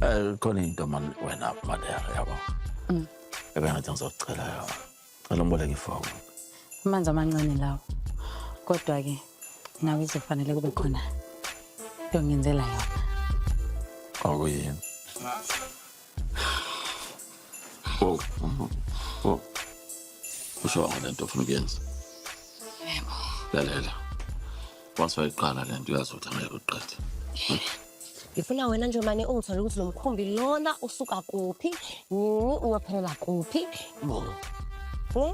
Eh, khona into mani wena madera yabo Mm. ebengathi ngizocela yona cela umboleke ifoni amanzi amancane lawo kodwa-ke nawe izofanele kube khona yongenzela yona okuyini Oh, oh, oh. Usho wanga lento ofuna ukuyenza. Yebo. Lalela. Once wayiqala lento uyazi ukuthi angeke uqede. Ngifuna wena nje mane ungithole ukuthi lo mkhumbi lona usuka kuphi, nini uyophelela kuphi. Yebo. Hmm?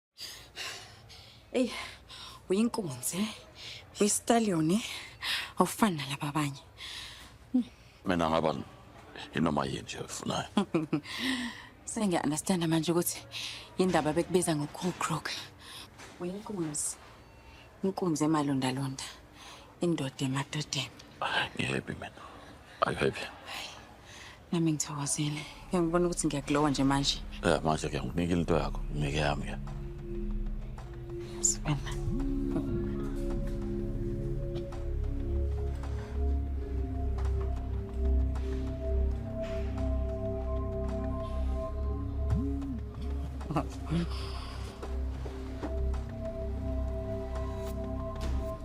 Ey, uyinkunzi, uyistallion, eh? awufani nalaba abanye. Mina ngaba inoma yini nje oyifunayo. Sengiya-understanda manje ukuthi yindaba bekubiza ngo-cool crook. Uyinkunzi, inkunzi emalondalonda. Indoda emadodeni. Hayi, ngihappy mina. Are you happy? Nami ngithokozile. Ngeke ngibone ukuthi ngiyakulowa nje manje. Ya manje ke nginikile into yakho, ngeke yami ke. Sibona. Mm-hmm.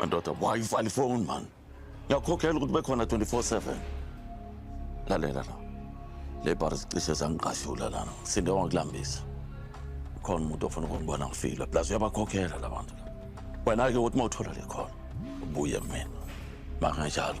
Ndoda, why you find phone man? Ngiyakhokhela ukuthi bekhona 24/7. Lalela la. Le bar zicishe zangiqashula lana. Sinde wangikulambisa. Khona umuntu ofuna ukungibona ngifile. Plus uyabakhokhela labantu. Wena ke uthi mawuthola le khona. Ubuye mina. Makanjalo.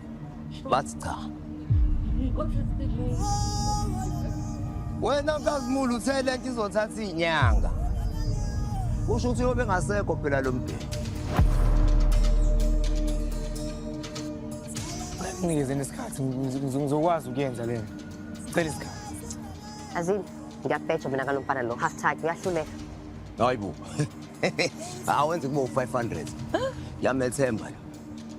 bathi cha wena mkazimulu uthe le nto izothatha iy'nyanga kusho ukuthi yobe ngasekho phela lo mdeni ngikezeni isikhathi ngizokwazi ukuyenza lena cela isikhathi azini ngiyabheja mina kalo mfana lo half tag uyahluleka hayi bo awenze kubo 500 yamethemba lo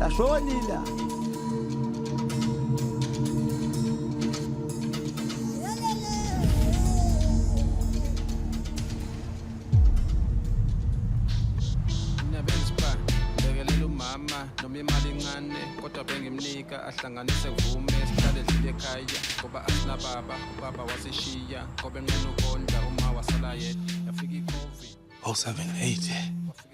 Lashonile. nika ahlanganise vume sihlale dlile ekhaya ngoba asinababa ubaba wasishiya ngobe nqena ukondla uma wasala yedwa yafika icovid 078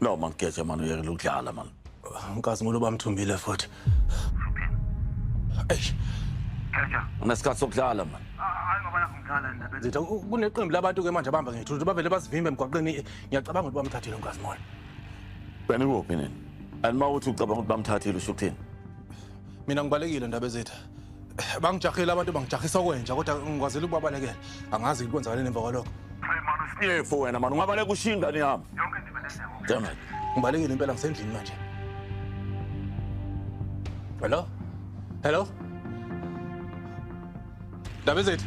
No man Geja man uyekela ukudlala man. Nkazimulo bamthumbile futhi. Eish. Geja. Unesikhathi sokudlala man. Hayi ngoba nakho ngidlala ndaba. Zitha kuneqembu labantu ke manje abahamba ngethuthu bavele basivimbe emgwaqeni ngiyacabanga ukuthi bamthathile uNkazimulo. Wena ukuphi nini? And mawuthi ucabanga ukuthi bamthathile usho ukuthini? Mina ngibalekile ndaba ezitha. bangijahile abantu bangijahisa okwenja kodwa ngikwazela ukubabalekela angazi kwenzakale nemva kwalokho siyefu wena mani ungabaleka ushiye ingane yami dammit ngibalekile impela ngisendlini manje hello hello ndaba ezethu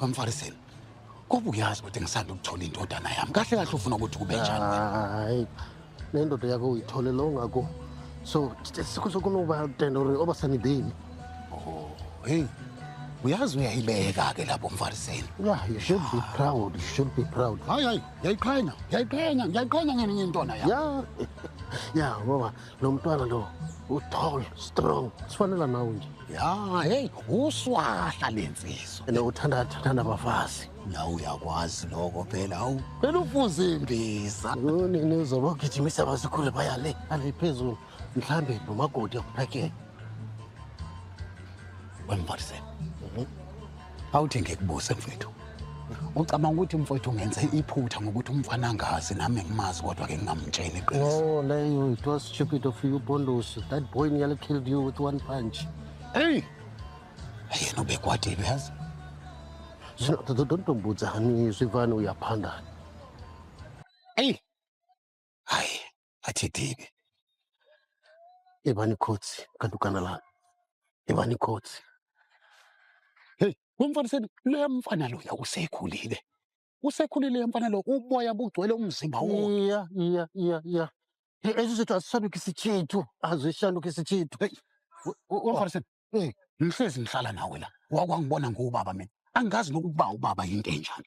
bamfariseni kobe uyazi ukuthi ngisanda ukuthola indodana yami kahle kahle ufuna ukuthi kube njani hayi le ndoda yakho uyithole lo ngako so sokunoba tendo ri oba sani bini oh hey uyazi uyayibeka-ke lapho mfariseni yeah you should be proud you should be proud hayi hayi ngiyayiqhenya ngiyayiqhenya ngiyayiqhenya ngene ngentwana yami ya ya ngoba Nomntwana lo uthol strong sifanela nawe nje ya hey uswahla lensizwa ene uthanda thanda abafazi la uyakwazi lokho phela awu phela ufuze imbiza nini uzobagijimisa abazikhule baya le ale phezulu mhlambe nomagodi akuphakele wemvarisela Awuthi ngikubuze mfethu. Ucabanga ukuthi mfowethu ngenze iphutha ngokuthi umfana angazi nami ngimazi kodwa ke ngingamtsheli iqiniso. Oh, Leo, it was stupid of you, Pondosi. That boy nearly killed you with one punch. Hey! Yena ubekwatile yazi. Zino- do- do- Don't don't bother me, Sivana, uyaphanda. Hey! Hayi, athi dibi. Yebani khotsi kanti ugana la. Yebani khotsi. Hey, wemfana seni loya mfana loya usekhulile. Usekhulile loya mfana lo uboya bugcwele umzimba wonke. Iya, iya, iya, iya. Ezi zethu azishanukisi chithu, azishanukisi chithu. Hey, wemfana seni. Hey, ngihlezi ngihlala nawe la. Wakwangibona ngubaba mina. Angazi nokuba ubaba yinto enjani.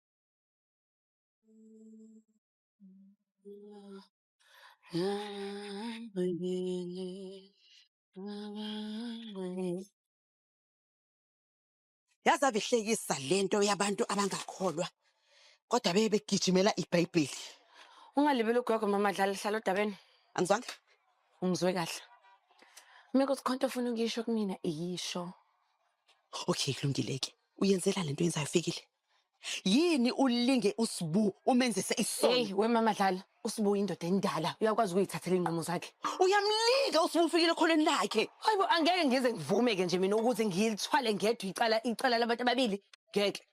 yaze abihlekisa lento yabantu abangakholwa kodwa beye begijimela ibhayibheli ungalibeli ugogo mama dlala hlala odabeni angizwanga ungizwe kahle uma kuthi khonto ofuna ukuyisho kumina iyisho okay kulungile-ke uyenzela lento yenzayo fikile yini ulinge usibu umenzise isono Hey wemama dlala usibu indoda endala uyakwazi ukuyithathela inqumo zakhe uyamlinga usibu ufikile khoneni lakhe hayibo angeke ngize ngivume-ke nje mina ukuthi ngilithwale ngedwa icala icala labantu ababili ngeke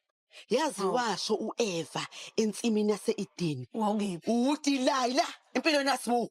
yazi Hawu. washo ueva ensimini yase-edeni wawukephi uwudilayi la empilweni yasibu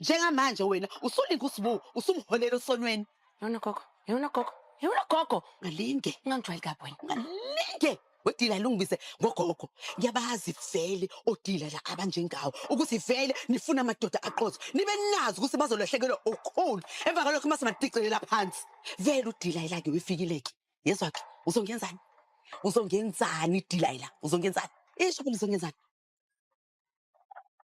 njengamanje wena usulinga usibu usumholela osonweni yona gogo yona gogo yona gogo ungalinge ungangijwayeli kabi wena ungalinge wedila lungibize ngogogo ngiyabazi vele odila la abanjengawo ukuthi vele nifuna amadoda aqozo nibe nazi ukuthi bazolahlekelwa ukhulu emva kwalokho uma simadicelela phansi vele udilayela ke wefikileke yezwa ke uzongenzani uzongenzani idilayela uzongenzani isho ukuthi uzongenzani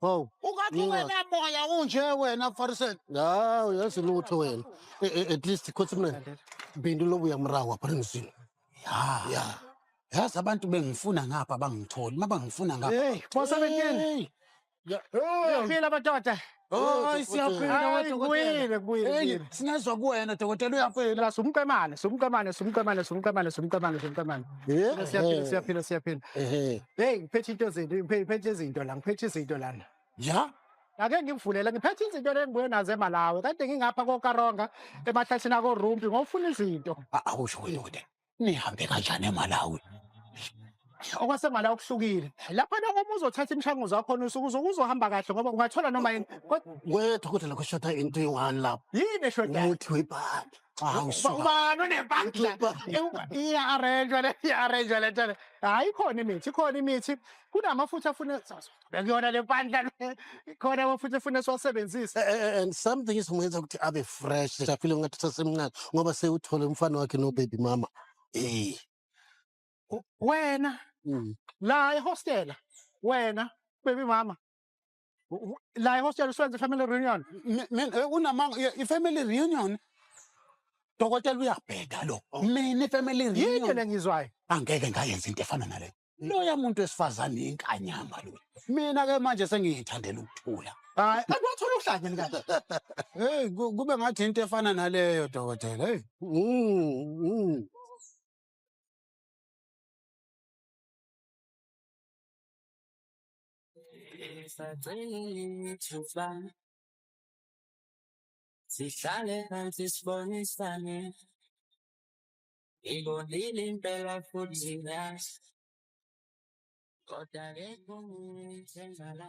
Hawu. Ungathi Yinga. wena moya unje wena mfariseni. Hawu yazi lutho wena. Eh, eh, At least khothi mina. Bindu lobu yamrawa prinzini. Ya. Ya. Yazi abantu bengifuna ngapha bangitholi. Uma bangifuna ngapha. Hey, bosa bekini. Phila madoda. Hayi siyaphila Hayi, wena kubuyile, kubuyile, Hey, kubuyile. sinezwa kuwena dokotela uyaphila. Sumqemane, sumqemane, sumqemane, sumqemane, sumqemane, sumqemane. Siyaphila, siyaphila, siyaphila, siyaphila. Ehe. Hey, ngiphethe into zinto, ngiphe- ngiphethe izinto la, ngiphethe izinto lana. Ya? Ake ngimvulele, ngiphethe izinto lengibuye nazo eMalawi. Kade ngingapha koKaronga, emahlathini akoRumpi, ngofuna izinto. A- Awusho wena ukuthi nihambe kanjani eMalawi? okwasemala okuhlukile lapha noma uma uzothatha imishanguzo yakhona usuke uzo- uzohamba kahle ngoba ungathola noma yini Kodwa Wethu ukuthi lokho shota into eyi-one lapho. yini eshodayo Umuthi webhadi. Hawu suka. Ubani unempahla? Iya-arrange-wa le, iya-arrange-wa le nto le. Hhayi ikhona imithi, ikhona imithi. Kunamafutha afuna bekuyona le mpandla le. Ikhona amafutha afuna siwasebenzise. Eh, eh, eh, and something esimenza ukuthi abe fresh safile ngathi usasemncane ngoba sewuthole umfana wakhe nobaby mama eh U- Wena mm. la ehostela. Wena baby mama. la ihostela usebenza i-family reunion eh, unamanga i-family reunion dokotela uyabheda lo oh. mina i-family reunion yini le ngizwayo angeke ngayenza into efana naleyo loya muntu wesifazane inkanyamba lo mina ke manje sengiyithandela ukuthula hayi akwathola uhlanya likahle hey kube ngathi into efana naleyo dokotela hey Ngisacela sihlale phansi sibonisane ngibonile impela futhi ngazi kodwa ke kungithembala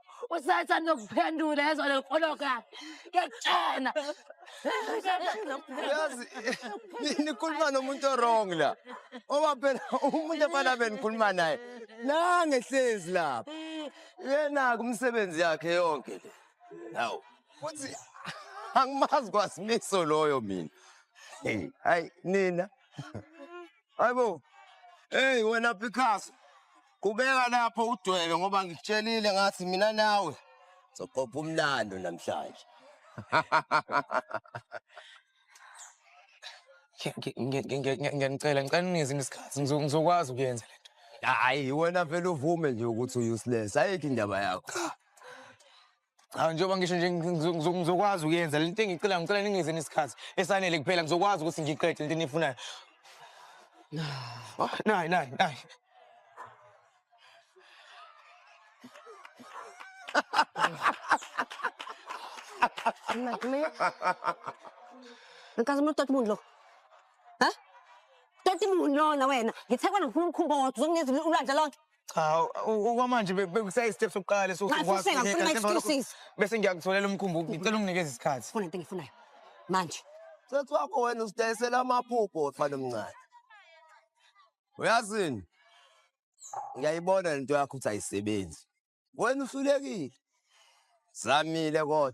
Usathi anokuphendula yezwa lelo koloka. Ngiyakutshena. Uyazi ni- nikhuluma nomuntu orong la. Oba phela umuntu efana benikhuluma naye. Nange hlezi lapha. Yena kumsebenzi yakhe yonke le. Hawu. Futhi angimazi kwasimiso loyo mina. Hey, hayi nina. Hayibo. Hey wena Picasso. Kubeka lapho udwebe ngoba ngikutshelile ngathi mina nawe soqopha umlando namhlanje. Ngiyanicela ngicela ningizini isikhathi ngizokwazi ukuyenza lento. Hayi wena vele uvume nje ukuthi uuseless ayikho indaba yakho. Hawu njengoba ngisho nje ngizo- ngizo- ngizokwazi ukuyenza lento engicela ngicela ningize nesikhathi esanele kuphela ngizokwazi ukuthi ngiqede lento enifunayo. Oh, Nayi nayi nayi. Nagme. Nkazi umuntu toti muntu lo. Ha? Toti muntu lona wena. Ngithekwa ngifuna umkhumbo wodwa uzongenza ulwandle lonke. Cha u- okwamanje be- bekusayi step sokuqala leso Nxa sokwazi ufuna ukunika, ngifuna njengoba lokho- excuses. Bese ngiyakutholela umkhumbulo ngicela unginikeze isikhathi. Funa into engifunayo. Manje. Sesi wakho wena usidayisela amaphupho wefana omncane. Uyazini? Ngiyayibona lento yakho ukuthi ayisebenzi. Wena uhlulekile. Zamile kodwa.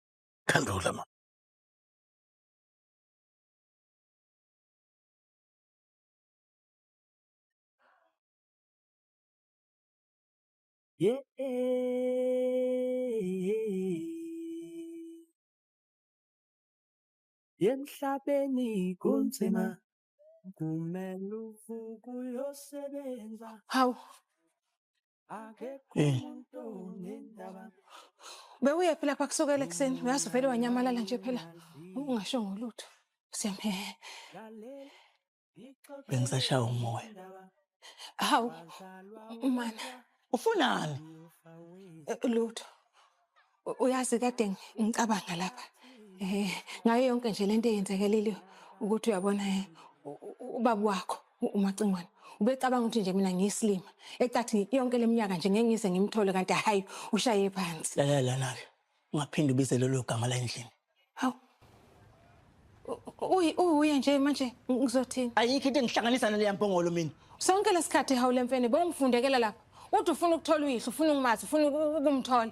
Phendula mama. Yeah. Emhlabeni kunzima kumele uvuke uyosebenza. Hawu. Eh. Bewuye phela pha kusukela ekuseni uyazi vele wanyamalala nje phela ungasho ngolutho. Siyamhe. Bengisashaya umoya. Hawu. Mana. Ufunani? Eh, Lutho. U- Uyazi kade ngi- ngicabanga lapha eh ngayo yonke nje lento eyenzekelile ukuthi uyabona eh, u- u- ubaba wakho u- umacingwane ubecabanga ukuthi nje mina ngiyisilima ecathi yonke leminyaka nje ngeke ngize ngimthole kanti hayi ushaye phansi lalela lana-ke ungaphinde ubize lelo gama la endlini Hawu. Uyi uye nje manje ngizothini? Ayikho into engihlanganisa naleya mpongolo mina. Sonke lesikhathi hawu lemfene bongifundekela lapha. Uthi ufuna ukuthola uyihlo, ufuna ukumazi, ufuna ukumthola.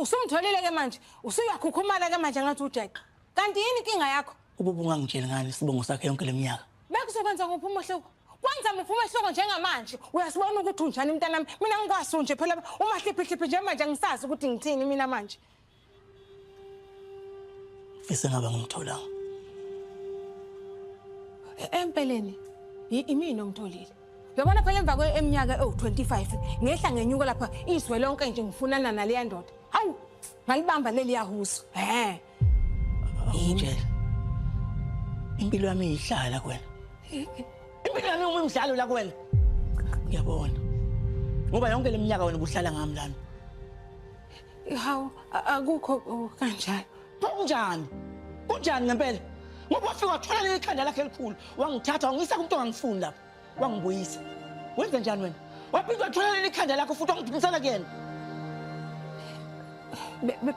Usumtholile ke manje, usuyakhukhumala ke manje ngathi ujeqa. Kanti yini inkinga yakho? Ukuba ungangitsheli ngani isibongo sakhe yonke leminyaka. Bekuzokwenza kuphi umehluko? Kwenza muphi umehluko njengamanje? Uyasibona ukuthi unjani mntanami? Mina ngikwasu nje phela umahliphihlipi nje manje angisazi ukuthi ngithini mina manje. Ngifisa ngabe ngimtholanga. E-, empeleni imini omtholile. Yabona phela emva kweminyaka ewu-25 ngehla ngenyuka lapha izwe lonke nje ngifunana naleya ndoda. Hawu, ngalibamba leli yahusu. Ehhe. Awungitshela. Impilo yami iyihlala kuwena. Impilo yami uma imidlalo la kuwena. Ngiyabona. Ngoba yonke leminyaka wena ubuhlala ngami lana. Hawu akukho oh, kanjalo. Kunjani? Kunjani ngempela? Ngoba wafika wathola leli khanda lakhe elikhulu, wangithatha wangiyisa kumuntu ongangifuni lapha. Wangibuyisa. Wenze njani wena? Waphinde wathola leli khanda lakho futhi wangiphindisela kuyena.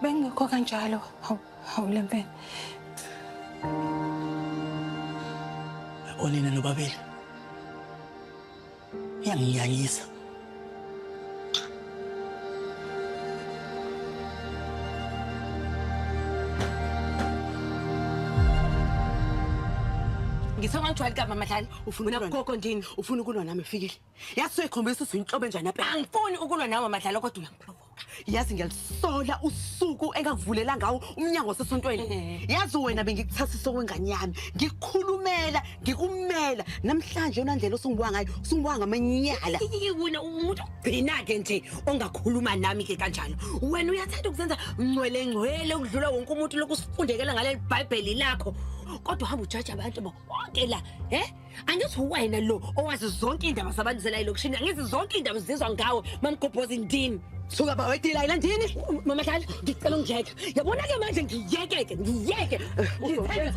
Bengekho kanjalo. Hawu hawu lempela. Onina nobabili. Uyanginyanyisa. ngithe ungangijwayeli kama madlali ufuna gogo ndini ufuna ukulwa nami fikile yazi soyikhombisa ukuthi uyinhlobo enjani apha angifuni ukulwa nawe madlali kodwa uyamphlobo yazi ngiyalisola usuku engakuvulela ngawo umnyango wasesontweni Ehhe. yazi wena bengikuthasisa okwengane yami ngikukhulumela ngikumela namhlanje yona ndlela osungibuka ngayo usungibuka ngamanyala Iyike wena umuntu ogcina-ke nje ongakhuluma nami-ke kanjalo wena uyathanda ukuzenza ngcwelengcwele ukudlula wonke umuntu lokhu usifundekela ngaleli bhayibheli lakho kodwa hamba ujaja abantu bo konke la he angithi uwena lo owazi zonke iy'ndaba zabantu zela elokishini angithi zonke iy'ndaba zizwa ngawe mamgobhoza indini suka ba wedila ila ndini mamadlala ngicela ungiyeke yabona ke manje ngiyeke-ke ngiyeke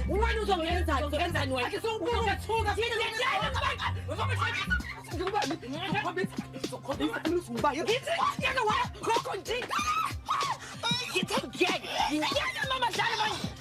wena uzongenzani uzongenzani wena ngithe ngiyeke ngiyeke mamadlala manje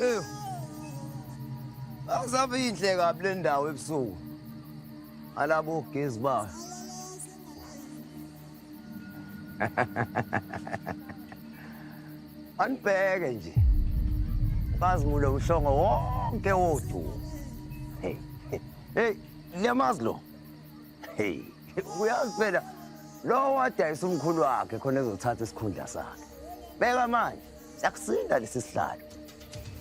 Eh. Akusabe inhle kabi le ndawo ebusuku. Alabo gezi ba. Anibheke nje. Bazimule uhlongo wonke wodwa. Hey. Hey, Liyamazi lo. Hey, uyazi phela lo wadayisa umkhulu wakhe khona ezothatha isikhundla sakhe. Beka manje, siyakusinda lesi sihlalo.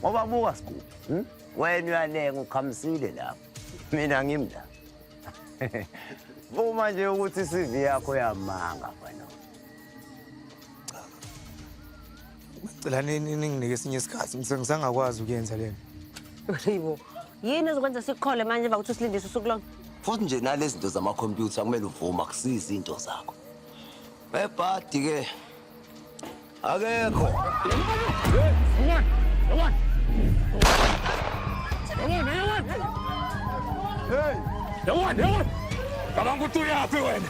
Ngoba buka sigubu, hm? Wena uyalenga ukhamisile lapho. Mina ngimi la. Vuma nje ukuthi i-CV yakho yamanga mfana. Ngicela nini ninginike esinye isikhathi ngisengizangakwazi ukuyenza lena. Hayibo, yini ezokwenza sikuqhole manje emva kokuthi usilindise usuku lonke futhi nje nalezi zinto zamakhompyutha kumele uvume akusizi into zakho bebhadi ke akekho Hey! Yawani, yawani! Cabanga ukuthi uyaphi wena?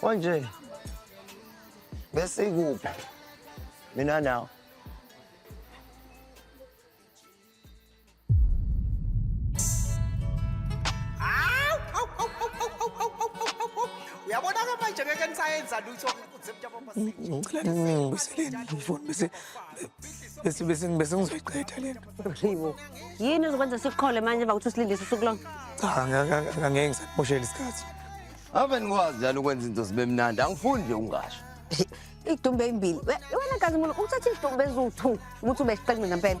Konje besikuphi mina nawe uyabona-ke manje ngeke nisayenza lutho ngicela ngibuyiseleni ifoni bese bese bese ngizoyiqeda lento Yibo. Yini uzokwenza sikuqhole manje emva kokuthi usilindise usuku lonke? Cha, angeke angeke ngisakumoshela isikhathi. Ave nikwazi njalo ukwenza into zibe mnandi. Angifuni nje ungasho. Idumbe ezimbili. We- Wena kazi mulo uthatha idumbe eziwu-2 ukuthi ube isiqenqe ngempela.